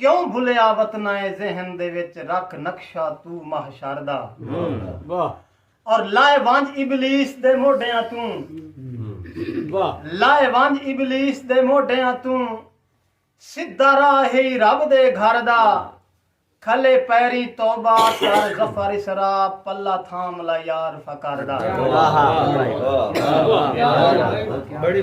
کیوں بھلیا وطنائے ذہن دے وچ رکھ نقشہ تو محشر دا اور لائے ونج ابلیس دے موڈیاں توں لائے ونج ابلیس دے موڈیاں توں سدھا راہ ہی رب دے گھر دا کھلے پیری توبہ کر ظفر اسرا پلا تھام لا یار فقر دا بڑی بڑی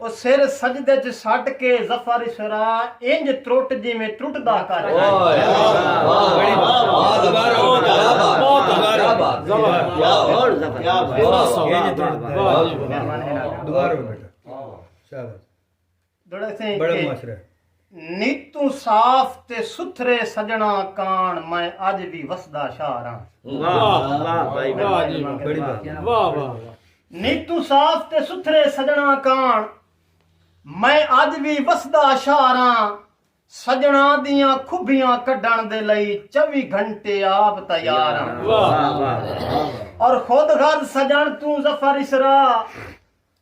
او سر سجدے اچ سٹ کے ظفر اسرا انج ترٹ جیویں ترٹدا کر گئے۔ نیتوں صاف تے ستھرے سجنڑاں کاݨ میں اج وی وسدا شہر آں۔ نیتوں صاف تے ستھرے سجنڑاں کاݨ میں اج وی وسدا شہر آں۔ سجنڑاں دیاں کھبیاں کڈھݨ دے لئی چوی گھنٹے آپ تیار آں۔ اور خود غرض سجنڑ توں ظفر اسرا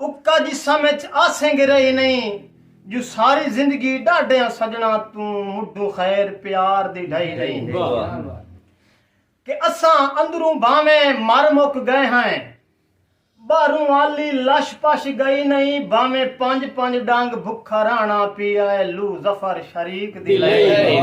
اکا جسم اچ آسنگ رہی نئیں جو ساری زندگی ڈاڈھیاں سجنڑاں توں مڈھوں خیر پیار دی ڈھئی نئیں کہ اساں اندروں بھانویں مر مک گئے ہائیں باہروں آلی لش پش گئی نئیں بھانویں پنج پنج ڈنگ بھکھا رہنڑا پی آئے لو ظفر شریق دی لئی نئیں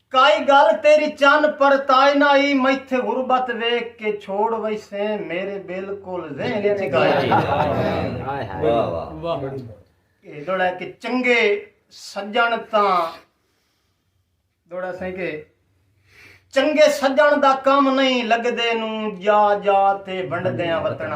کائی گالھ تیری چن پرتائے نہ ای میتھے غربت ویکھ کے چھوڑ ویسیں میرے بالکل ذہن اچ گالھ اے دوڑا ہے کہ چنگے سجن تاں دوڑا سائیں کہ چنگے سجن دا کم نہیں لگدے نو جا جا تے ونڈدیاں وطنا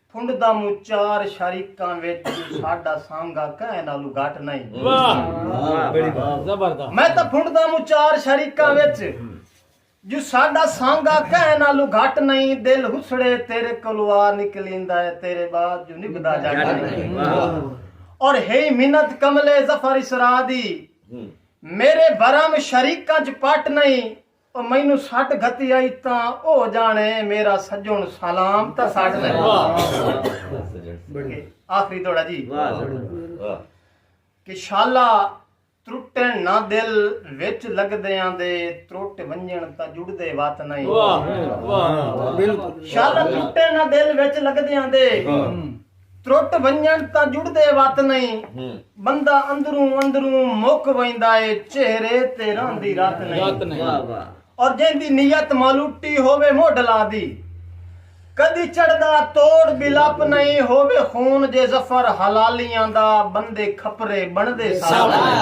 پھنڈ دا موں چار شریکاں وچ جو ساڈا سانگا کہیں نالوں گھٹ نئیں۔ میں تاں پھنڈ دا موں چار شریکاں وچ جو ساڈا سانگا کہیں نالوں گھٹ نئیں دل ہسڑے تیرے کولوں آ نکلیندا ہے تیرے بعد جو نبھدا جٹ نئیں۔ اور ہئی منت کملے ظفر اسرا دی میرے بھرم شریکاں چ پٹ نئیں۔ او مینوں سٹ گھتی آئی تاں او جانے میرا سجن سلام تاں سٹ لگی آخری دوڑا جی کہ شالا ترٹن نہ دل وچ لگ دے آن دے ترٹ ونجن تا جڑ دے وات نہیں شالا ترٹن نہ دل وچ لگ دے آن دے ترٹ ونڄݨ تاں جڑدے وت نئیں بندہ اندروں اندروں مک ویندا اے چہرے تے رہندی رت نئیں اور جیندی نیت مالوٹی ہووے موڈھلاں دی کدی چڑھدا توڑ بھی لپ نئیں ہووے خون جے ظفر حلالیاں دا بندے کھپرے بݨدے ساوݨ نئیں۔